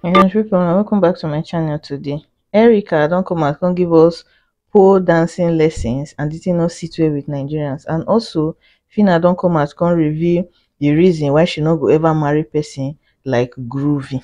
my country people una welcome back to my channel today erica don come out come give us pole dancing lessons and the thing no sit well with nigerians and also fina don come out come reveal the reason why she no go ever marry person like groovy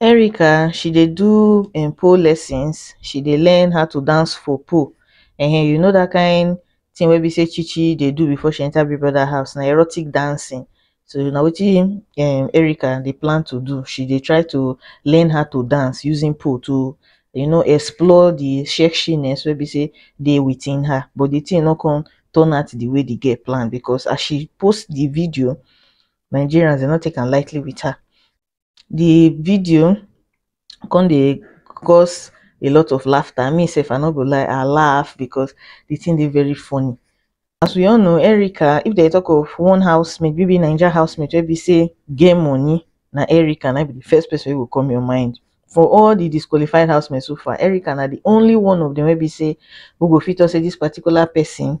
erica she dey do um pole lessons she dey learn how to dance for pole um you know that kind thing wey be say chi chi dey do before she enter big brother house na erotic dancing so na wetin um erica dey plan to do she dey try to learn how to dance using pole to you know explore the sexiness wey be say dey within her but the thing no come turn out the way the girl plan because as she post the video Nigerians dem no take am lightly with her the video come dey cause a lot of laughter me sef i no go lie i laugh because the thing dey very funny as we all know erica if they talk of one housemate maybe naija housemate wey be say get money na erica na be the first person wey go come your mind for all the disqualified housemates so far erica na the only one of them wey be say we go fit talk say this particular person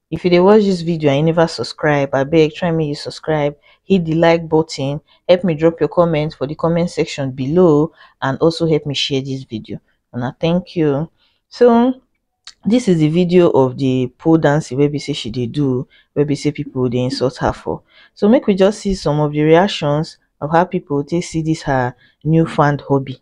if you dey watch this video and you never subscribe abeg try make you subscribe hit the like button help me drop your comment for the comment section below and also help me share this video and i thank you so this is the video of the pole dancing where we say she did do where we say people they insult her for so make we just see some of the reactions of how people they see this her newfound hobby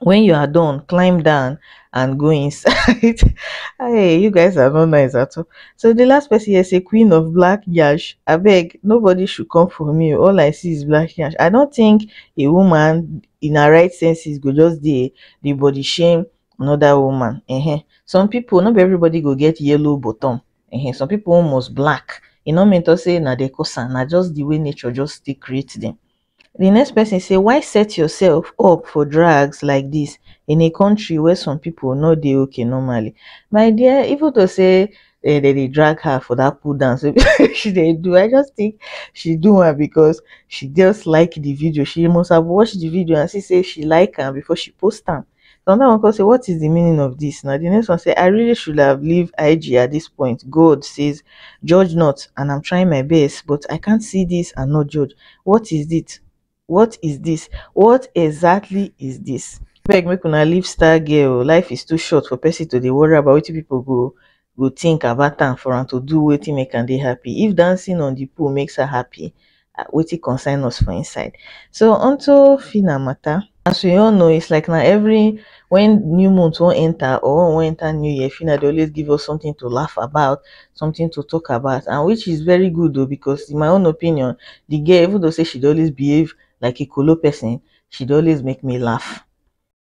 when you are done climb down and go inside hey you guys are not nice at all so the last person here say queen of black yash i beg nobody should come for me all i see is black yash i don't think a woman in her right senses go just the the body shame another woman uh -huh. some people not everybody go get yellow bottom uh -huh. some people almost black you know mentor say now they cause and just the way nature just they create them di next pesin say why set yourself up for drugs like dis in a kontri wia some pipo no dey ok normally my dear even though say dem dey drag her for dat cool dance wey she dey do I just think she do am because she just like di video she must have watched di video and see say she like am before she post am some of dem go come say what is the meaning of this na the next one say I really should have leave IG at this point God says judge not and I'm trying my best but I can't see this and not judge what is it what is this what exactly is this beg make una leave star girl life is too short for person to dey worry about wetin people go go think about am for am to do wetin make am dey happy. If dancing on the pool makes her happy, um wetin concern us for inside. So onto Phyna matter. As we all know, it's like na every when new month wan enter or when we wan enter new year, Phyna dey always give us something to laugh about, something to talk about and which is very good o because in my own opinion, the girl even though sey she dey always behave like a kolo person, she dey always make me laugh.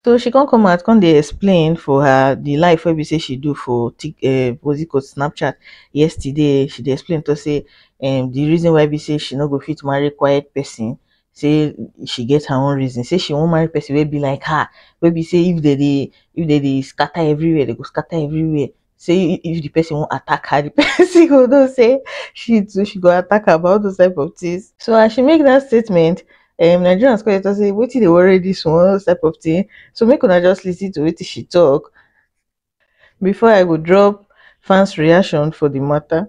so she come come out come dey explain for her the live wey be say she do for tik um what's it called snapchat yesterday she dey explain to say um the reason why be say she no go fit marry quiet person say she get her own reason say she wan marry person wey be like her wey be say if dem dey if dem dey scatter everywhere dem go scatter everywhere say if the person won't attack her, the person go know say she too she go attack her about those type of things. So as she make that statement, um, Nigerians call it and say, "What they worry this one?" Those type of thing. So make una just listen to what she talk before I go drop fans' reaction for the matter.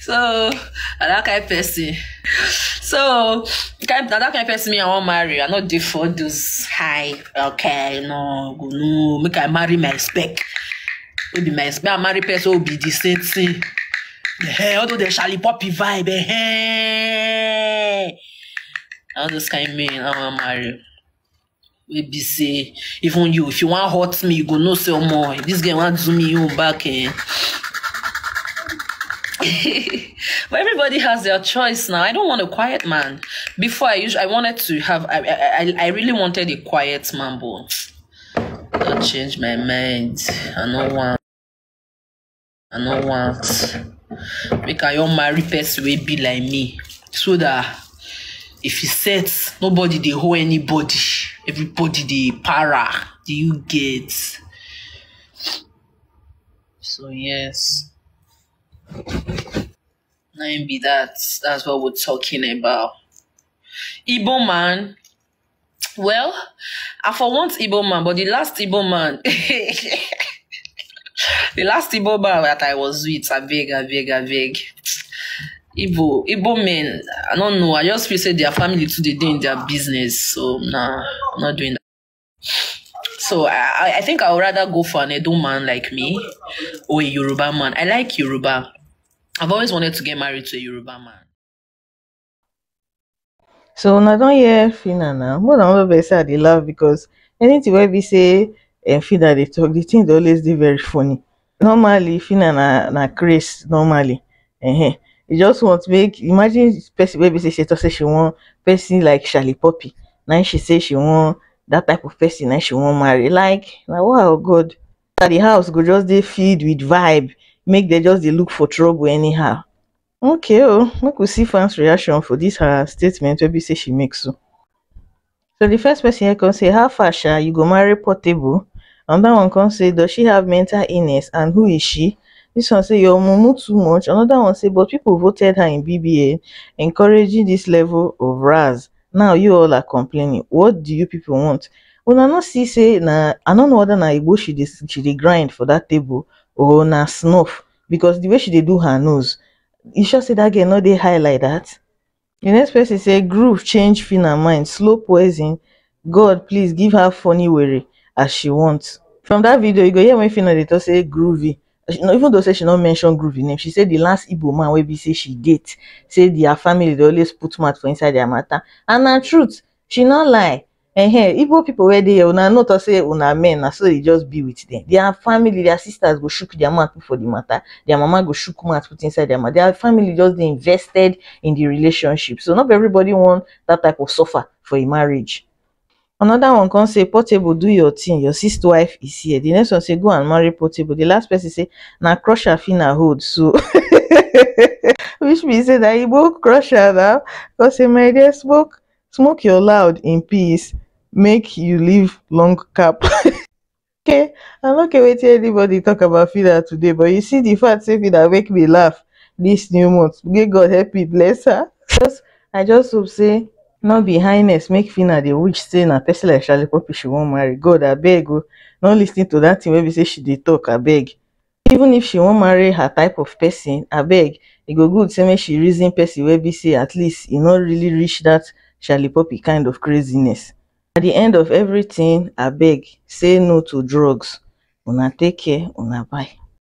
so na that kind person so kind na that kind person me i wan marry i no dey for those high okay no go no make i marry my spec wey be my spec i marry person wey be the same thing eh all those dey shali poppy vibe eh all those kind men i wan marry. wey be say even you if you wan hurt me you go know say omo if this girl wan do me own back eh but everybody has their choice now i don't want a quiet man before i usually i wanted to have i i, I I really wanted a quiet man but i change my mind i no want I no want make I wan marry person wey be like me so that if e set nobody dey hold anybody everybody dey para do you get so yes na him be that that's what we talking about igbo man Well, I for want Igbo man, but the last Igbo man, the last Igbo man that I was with, I beg, I beg, I beg. Igbo, Igbo men, I don't know. I just feel say their family too they dey in their business, so nah, I'm not doing that. So I, I- I think I would rather go for an Edo man like me or a Yoruba man. I like Yoruba. I've always wanted to get married to a Yoruba man. So una don hear Fina now. More than one person I dey laugh because anything wey be say um, Fina dey talk, the thing dey always dey very funny. Normally, Fina na na craze normally. Uh-huh. You just want make imagine person wey be say she talk say she want person like Charlie Poppy. Now she say she want that type of person now she want marry. Like now wow God. The house go just dey filled with vibe. Make they just dey look for trouble anyhow. Okay oh, make we see fans reaction for this her statement wey be say she make so. So the first person here come say, how far sha, you go marry portable? Another one come say, does she have mental illness and who is she? This one say, your mumu too much. Another one say, but people voted her in BBA, encouraging this level of raz. Now you all are complaining. What do you people want? Una no see say na I no know whether na Igbo she dey she dey grind for that table or na snuff because the way she dey do her nose you sure say that girl no dey high like that the next person say groove change phyna mind slow poison God please give her funny were as she want from that video you go hear when phyna dey talk say groovy she no even though say she no mention groovy name she say the last igbo man wey be say she date say their family dey always put mouth for inside their matter and na truth she no lie um igbo people wey dey here una no talk say una men na so e just be with dem their family their sisters go shook their mouth put for the matter their mama go shook mouth put inside their mouth their family just dey invested in the relationship so no be everybody wan that type of suffer for a marriage another one come say portable do your thing your sis wife is here the next one say go and marry portable the last person say na crusher fina hold so which means say na igbo crusher now come say my dear smoke smoke your loud in peace make you live long cap okay i no care wetin anybody talk about fida today but you see the fact say fida make me laugh this new month may god help me bless her just i just hope say no be highness make fina dey wish say na person like shalipopi she wan marry god abeg o no lis ten to that thing wey be say she dey talk abeg even if she wan marry her type of person abeg e go good say make she reason person wey be say at least e no really reach that shallipopi kind of craziness at the end of everything abeg say no to drugs una take care una bye